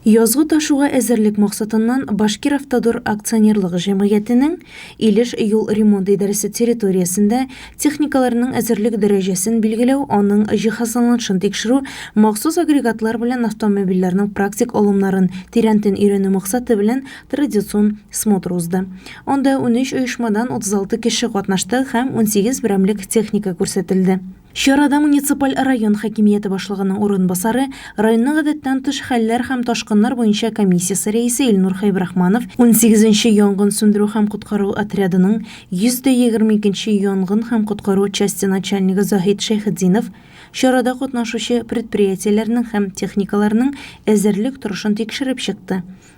Язгы ташуга әзерлек максатыннан Башкиравтодор акционерлык җәмгыятенең Илеш юл ремонт идарәсе территориясендә техникаларның әзерлек дәрәҗәсен билгеләү, аның җиһазланылышын тикшерү, махсус агрегатлар белән автомобильләрнең практик алымнарын тирәнтен өйрәнү максаты белән традицион смотр узды. Анда унөч оешмадан 36 кеше катнашты һәм унсигез берәмлек техника күрсәтелде. Чарада муниципаль район хакимияте башлыгының урынбасары, районның гадәттән тыш хәлләр һәм ташкыннар буенча комиссиясе рәисе Илнур Хәйбрахманов, унсигез нче янгын сүндерү һәм коткару отрядының 122 нче янгын һәм коткару часте начальнигы Заһит Шәйхетдинов чарада катнашучы предприятиеләрнең һәм техникаларының әзерлек торышын тикшереп чыкты.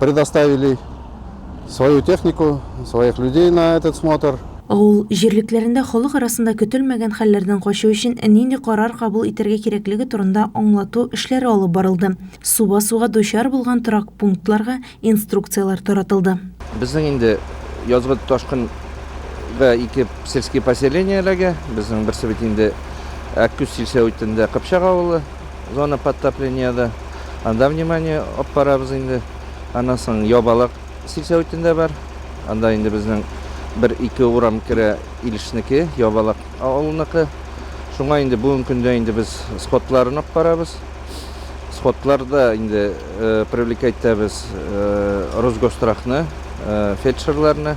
Предоставили свою технику, своих людей на этот смотр. Авыл җирлекләрендә халык арасында көтелмәгән хәлләрдән качу өчен нинди карар кабул итәргә кирәклеге турында аңлату эшләре алып барылды, су басуга дучар булган торак пунктларга инструкцияләр таратылды. Безнең инде язгы ташкын га ике сельские поселениеләгә, безнең берсе бит инде Әккүз сельсәветендә Кыпчак авылы. Зона подтоплениеда анда внимание алып барабыз инде. Аннан соң Ябалак сельсоветында бар. Анда инде безнең бер-ике урам керә Илешнеке, Ябалак авылыныкы. Шуңа инде бүгенге көндә инде без сходларын алып барабыз. Сходларда инде привлекать итәбез Росгострахны, фельдшерларны.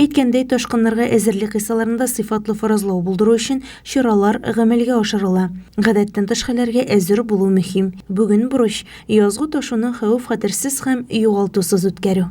Әйткәндәй, ташкыннарга әзерлек кысаларында сыйфатлы фаразлау булдыру өчен чаралар гамәлгә ашырыла. Гадәттән тыш хәлләргә әзер булу мөһим. Бүген бурыч, язгы ташуны хәвеф-хәтерсез һәм югалтусыз үткәрү.